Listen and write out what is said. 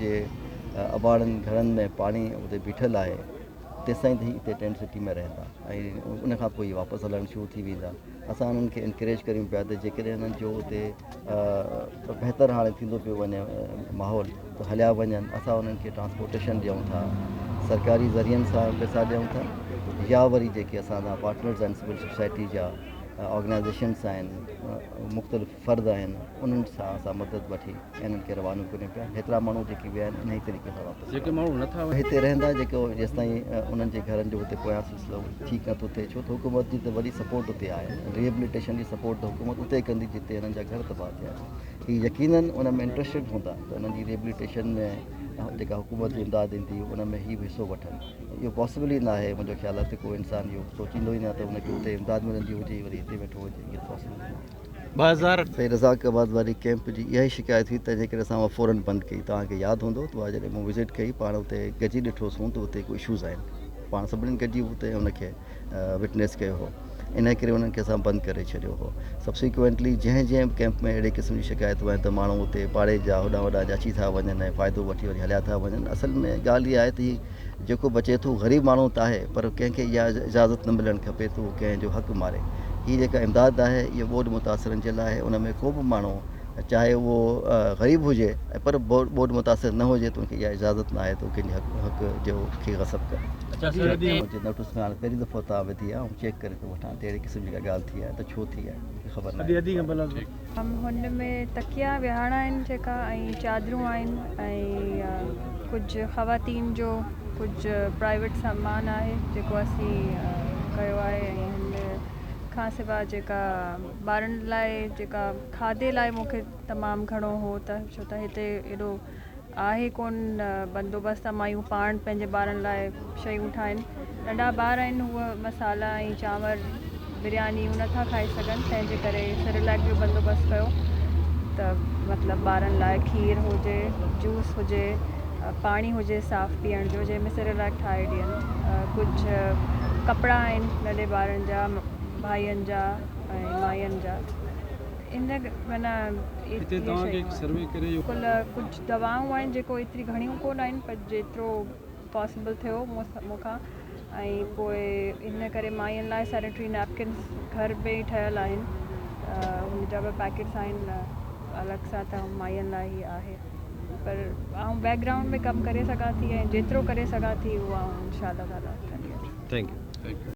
جي اباڻن گهرن ۾ پاڻي اتي بيٺل آهي تيستائين هي اتي ٽينٽ سٽي ۾ رهندا ۽ ان کان پوء واپس هلڻ شروع ٿي ويندا اسان انهن کي انڪريج ڪريون پيا ته جيڪڏهن انهن جو اتي بهتر هاڻي ٿيندو پيو وڃي ماحول ته هليا وڃن اسان انهن کي ٽرانسپورٽيشن ڏيون ٿا سرڪاري ذريعن سان پيسا ڏيون ٿا يا وري جيڪي اسان سان پارٽنرز آهن سول سوسائٽي جا آرگنائزيشنس آهن مختلف فرد آهن انهن سان اسان مدد وٺي انهن کي روانو ڪريون پيا هيترا ماڻهو جيڪي ويا آهن انهي طريقي سان واپس جيڪي ماڻهو نه ٿا هتي رهندا جيڪو جيستائين انهن جي گهرن جو هتي پويان سلسلو ٺيڪ نه ٿو ٿئي ڇو ته حڪومت جي ته وڏي سپورٽ اتي آهي ريهبليٽيشن جي سپورٽ ته حڪومت اتي ڪندي جتي انهن جا گهر تباهه ٿيا آهن هي يقينا ان ۾ انٽرسٽيڊ هوندا ته انهن جي ريهبليٽيشن ۾ جيڪا حڪومت جي امداد ايندي ان ۾ هي به حصو وٺن اهو پاسبل ئي ناهي منهنجو خيال آهي ته ڪو انسان اهو سوچيندو ئي نه ته هن کي اتي امداد ملندي هجي وري هتي ويٺو هجي اهو پاسبل ٻه هزار تائين رزاق آباد واري ڪيمپ جي اها ئي شڪايت هئي تنهن جي ڪري اسان اها فورن بند ڪئي توهان کي ياد هوندو ته اها جڏهن مون وزٽ ڪئي پاڻ اتي گڏجي ڏٺو سون ته اتي ڪو اشوز آهن پاڻ سڀني گڏجي اتي ان کي وٽنيس ڪيو هو ان ڪري انهن کي اسان بند ڪري ڇڏيو هو سبسيڪوينٽلي جنهن جنهن به ڪيمپ ۾ اهڙي قسم جي شڪايتون آهن ته ماڻهو اتي پاڙي جا هوڏانهن هوڏانهن جا اچي ٿا وڃن ۽ فائدو وٺي وري هليا ٿا وڃن اصل ۾ ڳالهه اها آهي ته هي جيڪو بچي ٿو غريب ماڻهو ته آهي پر ڪنهن کي اها اجازت نه ملڻ کپي ته هو ڪنهن جو حق ماري. هي جيڪا امداد آهي اهو ٻوڏ متاثرن جي لاء آهي ان ۾ ڪو به ماڻهو چاهي اهو غريب هجي ۽ پر ٻوڏ متاثر نه هجي ته ان کي اها اجازت نه آهي ته هو ڪنهن جي حق جو کي غصب ڪري. منهنجي نوٽس ۾ هاڻي پهرين دفعو تان وڌي آهي آئون چيڪ ڪري ٿو وٺان ته اهڙي قسم جي ڪا ڳالهه ٿي آهي ته ڇو ٿي آهي مون کي خبر ناهي. هن ۾ تڪيا ويهاڻا آهن جيڪا ۽ چادرون آهن ۽ ڪجهه خواتين جو ڪجهه پرائيويٽ سامان آهي جيڪو اسين ڪيو آهي ۽ هن کان سواء جيڪا ٻارن لاء جيڪا کاڌي لاء مون کي تمام گهڻو هو ته ڇو ته هتي ايڏو آهي ڪون بندوبست ته مايون پاڻ پنهنجي ٻارن لاء شيون ٺاهين. ننڍا ٻار آهن هو مصالحا ۽ چانور بريانيون نه ٿا کائي سگهن تنهن جي ڪري سريليڪ جو بندوبست ڪيو ته مطلب ٻارن لاء کير هجي جوس هجي پاڻي هجي صاف پيئڻ جو جنهن ۾ سريليڪ ٺاهي ڏين ڪجهه ڪپڙا آهن ننڍي ٻارن جا ڀائين جا ۽ ماين جا. ان معنيٰ هتي توهان کي هڪ سروي ڪري اهو. ڪل ڪجهه دوائون آهن جيڪو ايتري گهڻيون ڪونه آهن پر جيترو پاسبل ٿيو مون کان ۽ پوء ان ڪري مائين لاء سينيٽري نيپڪنس گهر ۾ ئي ٺهيل آهن ان جا به پيڪيٽس آهن الڳ سان ته مائين لاء ئي آهي پر آئون بيڪ گرائونڊ ۾ ڪم ڪري سگهان ٿي ۽ جيترو ڪري سگهان ٿي اهو آئون انشاء الله تعالٰي ڪندي رهندس. Thank U.